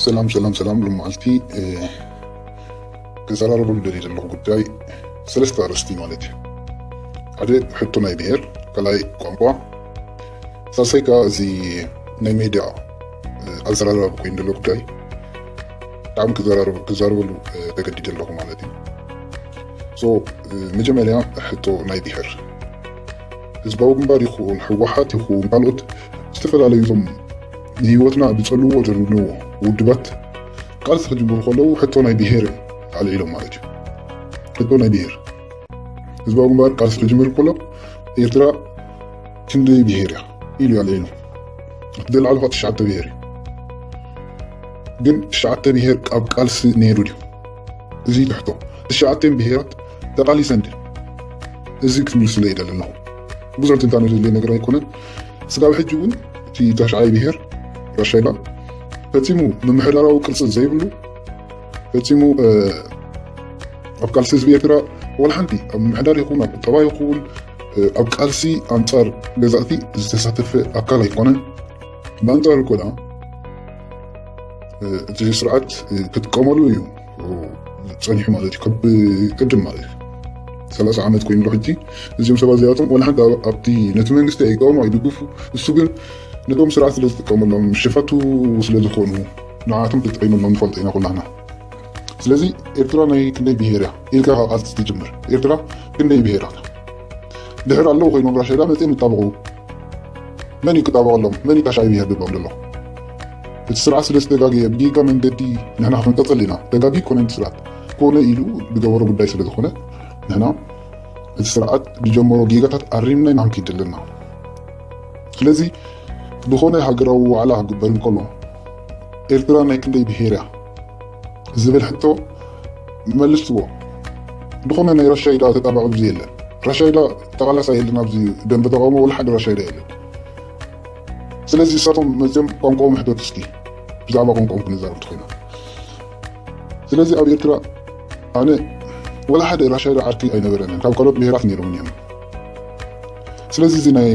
ሰላም ሰላም ሰላም ሎመዓልቲ ክዘራረበሉ ደልየ ዘለኹ ጉዳይ ሰለስተ ኣርእስቲ ማለት እዩ ሓደ ሕቶ ናይ ብሄር ካልኣይ ቋንቋ ሳልሳይ ከዓ እዚ ናይ ሜድያ ኣዘራራቢ ኮይኑ ዘሎ ጉዳይ ብጣዕሚ ክዛረበሉ ተገዲደ ኣለኹ ማለት እዩ መጀመርያ ሕቶ ናይ ብሄር ህዝባዊ ግንባር ይኹን ህወሓት ይኹን ካልኦት ዝተፈላለዩ እቶም ንህይወትና ዝፀልውዎ ዘለዉ ውድባት ቃልሲ ክጅምሩ ከለዉ ሕቶ ናይ ብሄር ኣልዒሎም ማለት እዩ ሕቶ ናይ ብሄር ህዝባዊ ግንባር ቃልሲ ክጅምር ከሎ ኤርትራ ክንደይ ብሄር እያ ኢሉ ኣልዒሉ እቲ ዘልዓሉ ከዓ ትሽዓተ ብሄር እዩ ግን ትሽዓተ ብሄር ኣብ ቃልሲ ነይሩ ድዩ እዚ ትሕቶ ትሽዓተን ብሄራት ተቃሊሰን ድየን? እዚ ክትምልስሉ ይደሊ ኣለኹ። ብዙሕ ትንታነ ዘድልዮ ነገር ኣይኮነን። ስጋብ ሕጂ እውን እቲ ታሽዓይ ብሄር ራሻይባ ፈጺሙ ምምሕዳራዊ ቅርጺ ዘይብሉ ፈጺሙ ኣብ ቃልሲ ህዝቢ ኤርትራ ወላ ሓንቲ ኣብ ምምሕዳር ይኹን ኣብ ቁጠባ ይኹን ኣብ ቃልሲ ኣንጻር ገዛእቲ ዝተሳተፈ ኣካል ኣይኮነን። ብኣንጻሩ ኮዳ እቲ ስርዓት ክጥቀመሉ እዩ ፀኒሑ ማለት እዩ ካብ ቅድም ማለት እዩ ሰላሳ ዓመት ኮይኑ ሕጂ እዚኦም ሰባት እዚኣቶም ወላ ሓንቲ ኣብቲ ነቲ መንግስቲ ኣይቀሙ ኣይድግፉ እሱ ግን ነቶም ስርዓት ስለ ዝጥቀመሎም ሸፋቱ ስለ ዝኾኑ ንዓቶም ተጠቂመሎም ንፈልጦ ኢና ኩላና ስለዚ ኤርትራ ናይ ክንደይ ብሄር እያ ኢልካ ካብ ቃልሲ ትጅምር ኤርትራ ክንደይ ብሄራት ድሕር ኣለዉ ኮይኖም ራሻይዳ መጺኦም ይጣበቑ መን እዩ ክጣበቐሎም መን እዩ ካሻ ይብሄር ድብሎም ደሎ እቲ ስርዓት ስለ ዝተጋገየ ብጌጋ መንገዲ ንሕና ክንቀጽል ኢና ተጋጊ ኮነ እቲ ስርዓት ኮነ ኢሉ ዝገበሮ ጉዳይ ስለ ዝኾነ ንሕና እቲ ስርዓት ዝጀመሮ ጌጋታት ኣሪምና ኢና ክንከይድ ዘለና ስለዚ ዝኾነ ሃገራዊ ዋዕላ ክግበር እንከሎ ኤርትራ ናይ ክንደይ ብሄር እያ ዝብል ሕቶ መልስዎ ድኾነ ናይ ራሻይዳ ተጣባቂ ብዙ የለን ራሻይዳ ተቃላሳይ የለን ኣብዚ ደንበ ተቃውሞ ወላ ሓደ ራሻይዳ የለን ስለዚ እሳቶም መፅኦም ቋንቋኦም ሕተቱ እስኪ ብዛዕባ ቋንቋኦም ክንዛረብ እንተኮይና ስለዚ ኣብ ኤርትራ ኣነ ወላ ሓደ ራሻይዳ ዓርኪ ኣይነበረንን ካብ ካልኦት ብሄራት ነይሮምን እዮም ስለዚ እዚ ናይ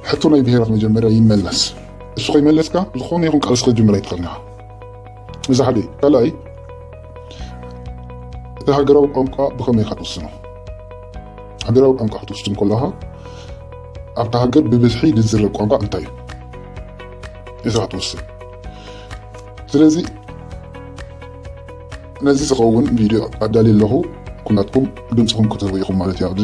ሕቶ ናይ ብሄራት መጀመርያ ይመለስ እሱ ከይመለስካ ዝኾነ ይኹን ቃልሲ ክትጅምር ኣይትኽእልን ኢኻ እዚ ሓደ እዩ። ካልኣይ እቲ ሃገራዊ ቋንቋ ብኸመይ ኢኻ ትውስኖ? ሃገራዊ ቋንቋ ክትውስን ከለኻ ኣብታ ሃገር ብብዝሒ ዝዝረብ ቋንቋ እንታይ እዩ? እዚ ክትውስን ስለዚ ነዚ ዝኸውን ቪድዮ ኣዳልየ ኣለኹ ኩላትኩም ድምፅኹም ክትህቡ ኢኹም ማለት እዩ ኣብዚ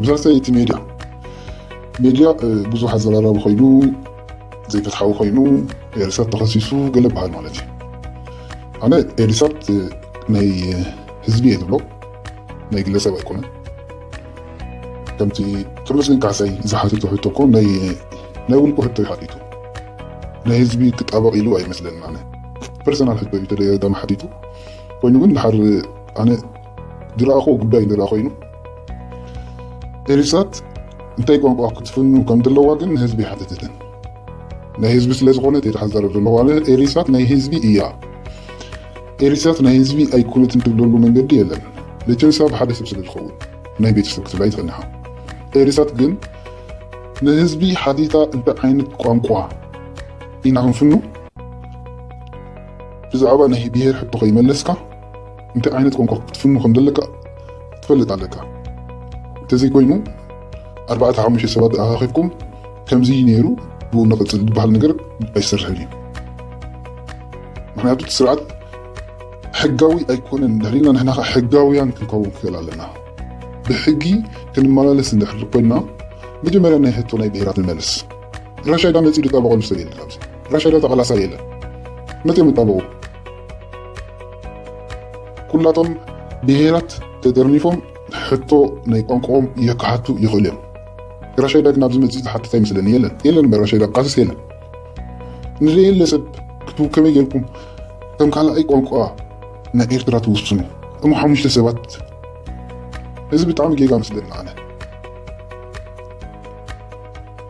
ብዛዕባ እቲ ሜድያ ሜድያ ብዙሕ ኣዘራራቢ ኮይኑ ዘይፍትሓዊ ኮይኑ ኤሪሳት ተኸሲሱ ገለ ይበሃል ማለት እዩ ኣነ ኤሪሳት ናይ ህዝቢ እየ ዝብሎ ናይ ግለሰብ ኣይኮነን ከምቲ ተመስገን ካሕሳይ ዝሓተቶ ሕቶ እኮ ናይ ውልቁ ሕቶ እዩ ሓቲቱ ናይ ህዝቢ ክጣበቕ ኢሉ ኣይመስለንን ኣነ ፐርሰናል ሕቶ እዩ ተደጋጋሚ ሓቲቱ ኮይኑ ግን ድሓር ኣነ ዝረኣኹዎ ጉዳይ እንተ ኮይኑ ኤሪሳት እንታይ ቋንቋ ክትፍኑ ከም ዘለዋ ግን ንህዝቢ ኣይሓተተትን። ናይ ህዝቢ ስለ ዝኾነት እየ ተሓዛረብ ዘለኹ ኣነ። ኤሪሳት ናይ ህዝቢ እያ። ኤሪሳት ናይ ህዝቢ ኣይኮነትን ትብለሉ መንገዲ የለን። ለቸንሳ ብሓደ ሰብ ስለ ዝኸውን ናይ ቤተሰብ ክትብል ኣይትኽእልንኻ። ኤሪሳት ግን ንህዝቢ ሓቲታ እንታይ ዓይነት ቋንቋ ኢና ክንፍኑ ብዛዕባ ናይ ብሄር ሕቶ ከይመለስካ እንታይ ዓይነት ቋንቋ ክትፍኑ ከም ዘለካ ትፈልጥ ኣለካ እንተዘይኮይኑ ኣርባዕተ ሓሙሽተ ሰባት ኣኻኺብኩም ከምዚ ነይሩ ብኡ ንቕፅል ዝበሃል ነገር ኣይሰርሕን እዩ ምክንያቱ ስርዓት ሕጋዊ ኣይኮነን እንድሕሪልና ንሕና ከዓ ሕጋውያን ክንከውን ክኽእል ኣለና ብሕጊ ክንመላለስ እንድሕሪ ኮይና መጀመርያ ናይ ሕቶ ናይ ብሄራት ንመልስ ራሻይዳ መፂኡ ዝጣበቐሉ ሰብ የለን ኣብዚ ራሻይዳ ተቐላሳ የለን መፅኦም ይጣበቑ ኩላቶም ብሄራት ተጠርኒፎም ሕቶ ናይ ቋንቋኦም የካሓቱ ይኽእሉ እዮም። ራሻይዳ ግን ኣብዚ መጺ ዝሓትት ኣይመስለኒ የለን የለን እምበር ራሻይዳ ቃልስ የለን ንዘየለ ሰብ ክትቡ ከመይ ጌርኩም ከም ካልኣይ ቋንቋ ናይ ኤርትራ ትውስኑ እሞ ሓሙሽተ ሰባት እዚ ብጣዕሚ ጌጋ መስለኒ ኣነ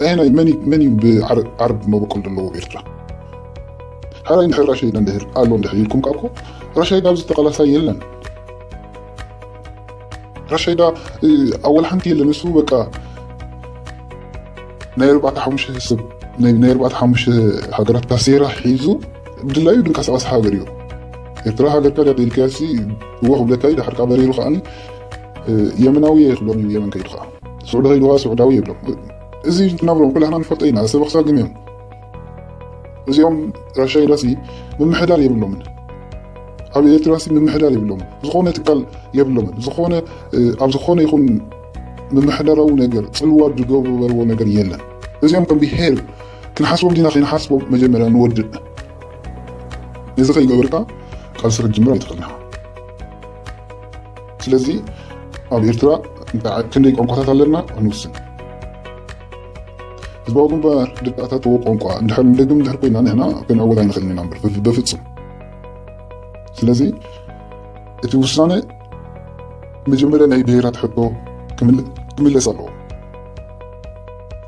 ኣየናይ መን እዩ መን እዩ ብዓረብ መበቆል ዘለዎ ኣብ ኤርትራ ሕራይ እንድሕር ራሻ ኢላ እንድሕር ኣሎ እንድሕር ኢልኩም ካብ እኮ ራሻይዳ ኣብዚ ተቃላሳይ የለን ራሻይዳ ኣወል ሓንቲ የለን እሱ በቃ ናይ ኣርባዕተ ሓሙሽተ ሰብ ናይ ኣርባዕተ ሓሙሽተ ሃገራት ካሴራ ሒዙ ብድላዩ ድንቀሳቀስ ሃገር እዩ ኤርትራ ሃገርካ ድያ ደልካሲ እወ ክብለካ እዩ ድሓርካ በሪሩ ከዓኒ የመናዊ እየ ክብሎም እዩ የመን ከይዱ ከዓ ሱዑዳዊ ኢልዋ ሱዑዳዊ ይብሎ እዚ ዝናብሮ ኩላህና ንፈልጦ ኢና ሰብ ክሳብ ግን እዮም እዚኦም ራሻይዳሲ ምምሕዳር የብሎምን ኣብ ኤርትራሲ ምምሕዳር የብሎምን ዝኾነ ትካል የብሎምን ዝኾነ ኣብ ዝኾነ ይኹን ምምሕዳራዊ ነገር ፅልዋ ዝገበርዎ ነገር የለን እዚኦም ከም ብሄር ክንሓስቦም ዲና ከይንሓስቦም መጀመርያ ንወድእ እዚ ከይገበርካ ቃልሲ ክትጅምር ኣይትኽእልና ስለዚ ኣብ ኤርትራ ክንደይ ቋንቋታት ኣለና ክንውስን ህዝባዊ ግንባር ደቂ ኣታተዎ ቋንቋ እንድሕር ንደግም እንድሕር ኮይና ንሕና ክንዕወት ኣይንኽእልን ኢና እምበር በፍጹም ስለዚ እቲ ውሳነ መጀመርያ ናይ ብሄራት ሕቶ ክምለስ ኣለዎ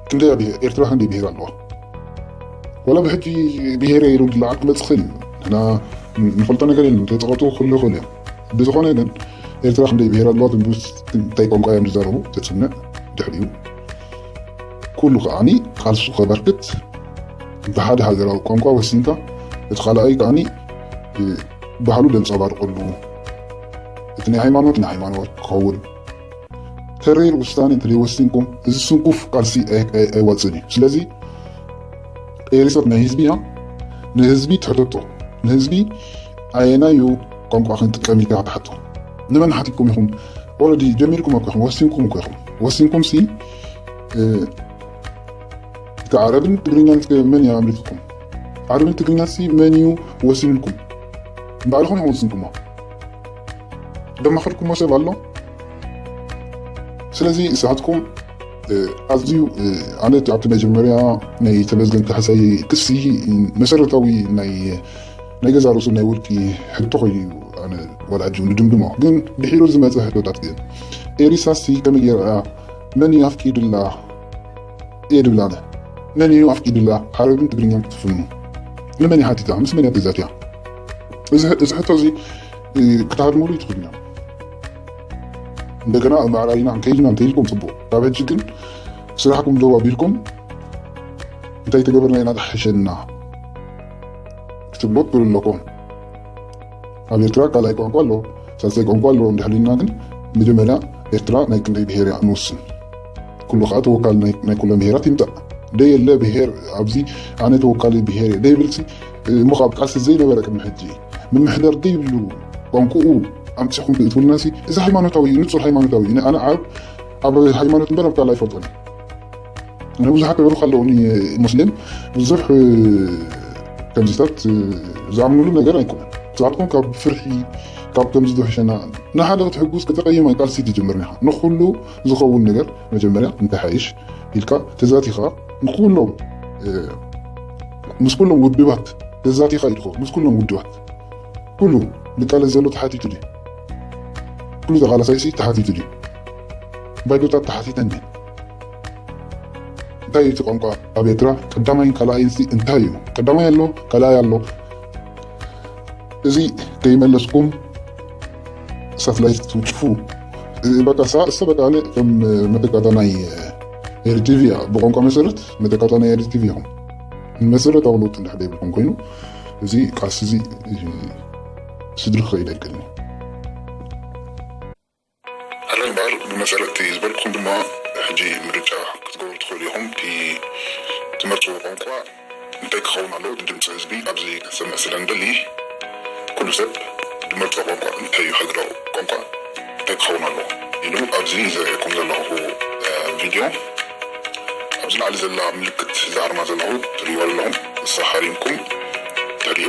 ክንደይ ኤርትራ ክንደይ ብሄር ኣለዋ ወላ ብሕጂ ብሄረ ኢሉ ድላዓ ክመጽእ ክእል እዩ ንሕና ንፈልጦ ነገር የለን ተጠቐጡ ክህሉ ይኽእሉ እዮም ብዝኾነ ግን ኤርትራ ክንደይ ብሄር ኣለዋ ትንቡስ እንታይ ቋንቋ እዮም ዝዛረቡ ተጽንዕ ድሕሪኡ ኩሉ ከዓኒ ቃልሱ ከበርክት ብሓደ ሃገራዊ ቋንቋ ወሲንካ እቲ ካልኣይ ከዓኒ ባህሉ ዘንጸባርቀሉ እቲ ናይ ሃይማኖት ናይ ሃይማኖት ክኸውን ተሪር ውሳኔ እንተዘይወሲንኩም እዚ ስንኩፍ ቃልሲ ኣይዋፅእን እዩ። ስለዚ ኤሪሶት ናይ ህዝቢ እያ። ንህዝቢ ትሕተቶ ንህዝቢ ኣየናዩ ቋንቋ ክንጥቀም ኢልካ ትሓቶ ንመን ሓቲትኩም ኢኹም? ኦልሬዲ ጀሚርኩም እኮ ኢኹም ወሲንኩም እኮ ኢኹም ወሲንኩም ሲ እቲ ዓረብን ትግርኛን መን እዩ ኣምሪትኩም? ዓረብን ትግርኛን ሲ መን እዩ ወሲንልኩም? ንባዕልኹም ኢኹም ወሲንኩሞ። ደማኸልኩሞ ሰብ ኣሎ ስለዚ ንስኻትኩም ኣዝዩ ኣነት ኣብቲ መጀመርያ ናይ ተመዝገን ካሕሳይ ክሲ መሰረታዊ ናይ ገዛ ርእሱ ናይ ውልቂ ሕቶ ኮይኑ እዩ ኣነ ወላጁ ንድምድሞ ግን ድሒሩ ዝመፀ ሕቶታት ግን ኤሪሳሲ ከመይ ጌራ መን እዩ ኣፍቂድላ እየ ድብላነ መን እዩ ኣፍቂድላ ዓረብን ትግርኛን ክትፍኑ ንመን ይሓቲታ ምስ መን እያ ተዛትያ እዚ ሕቶ እዚ ክትሃድሙሉ ይትኽእሉ ኢና እንደገና ምዕራይና እንከይድና እንተይልኩም ፅቡቅ ካብ ሕጂ ግን ስራሕኩም ደው ኣቢልኩም እንታይ ተገበርና ኢና ዝሓሸና ክትብሎ ትኽእሉ ኣለኩም ኣብ ኤርትራ ካልኣይ ቋንቋ ኣሎ ሳልሳይ ቋንቋ ኣሎ እንድሕልና ግን መጀመርያ ኤርትራ ናይ ክንደይ ብሄር እያ ንውስን ኩሉ ከዓ ተወካሊ ናይ ኩለን ብሄራት ይምጣእ ደየለ ብሄር ኣብዚ ኣነ ተወካሊ ብሄር እየ ደይብልሲ እሞ ካብ ቃልሲ ዘይነበረ ቅድሚ ሕጂ ምምሕዳር ዘይብሉ ቋንቁኡ ኣምጺኹም ትእትውልናሲ እዚ ሃይማኖታዊ እዩ ንጹር ሃይማኖታዊ እዩ ኣነ ዓብ ኣብ ሃይማኖት እምበር ኣብ ካልእ ኣይፈልጦን እነ ብዙሓት ተበሩኽ ኣለውኒ ሙስሊም ብዙሕ ከምዚታት ዝኣምኑሉ ነገር ኣይኮነን ንስኻትኩም ካብ ፍርሒ ካብ ከምዚ ዝሕሸና ንሓደ ክትሕጉስ ከተቀይም ቃልሲ ትጅምር ኢኻ ንኩሉ ዝኸውን ነገር መጀመርያ እንተሓይሽ ኢልካ ተዛቲኻ ንኩሎም ምስ ኩሎም ውድባት ተዛቲኻ ኢልኮ ምስ ኩሎም ውድባት ኩሉ ንቃለስ ዘሎ ተሓቲቱ ድዩ ኩሉ ተቓላሳይሲ ተሓቲቱ ድዩ ባይዶታት ተሓቲተን ድዩ እንታይ እቲ ቋንቋ ኣብ ኤርትራ ቀዳማይን ካልኣይን ሲ እንታይ እዩ ቀዳማይ ኣሎ ካልኣይ ኣሎ እዚ ከይመለስኩም ሳትላይት ትውንጭፉ በቃ እሰ በቃ ለ ከም መተካታ ናይ ኤሪ ቲቪ እያ ብቋንቋ መሰረት መተካታ ናይ ኤሪ ቲቪ ይኹን መሰረታዊ ለውጢ እንዳሕደ ይብልኩም ኮይኑ እዚ ቃልሲ እዚ ስድሪ ክኸይድ ኣይክእልን ኣረ እምበኣር ብመሰረት ዝበልኩም ድማ ሕጂ ምርጫ ክትገብሩ ትኽእሉ ኢኹም እቲ ትመርፅዎ ቋንቋ እንታይ ክኸውን ኣለዎ እቲ ድምጺ ህዝቢ ኣብዚ ክንሰምዕ ስለ ንደሊ ኩሉ ሰብ ድመርጾ ቋንቋ እንታይ እዩ ሃገራዊ ቋንቋ እንታይ ክኸውን ኣለዎ ኢሉ ኣብዚ ዘርእየኩም ዘለኹ ቪድዮ ኣብዚ ላዕሊ ዘላ ምልክት እዛ ኣርማ ዘለኹ ትርእይዋ ዘለኹም ንሳ ሃሪምኩም ተርእዩ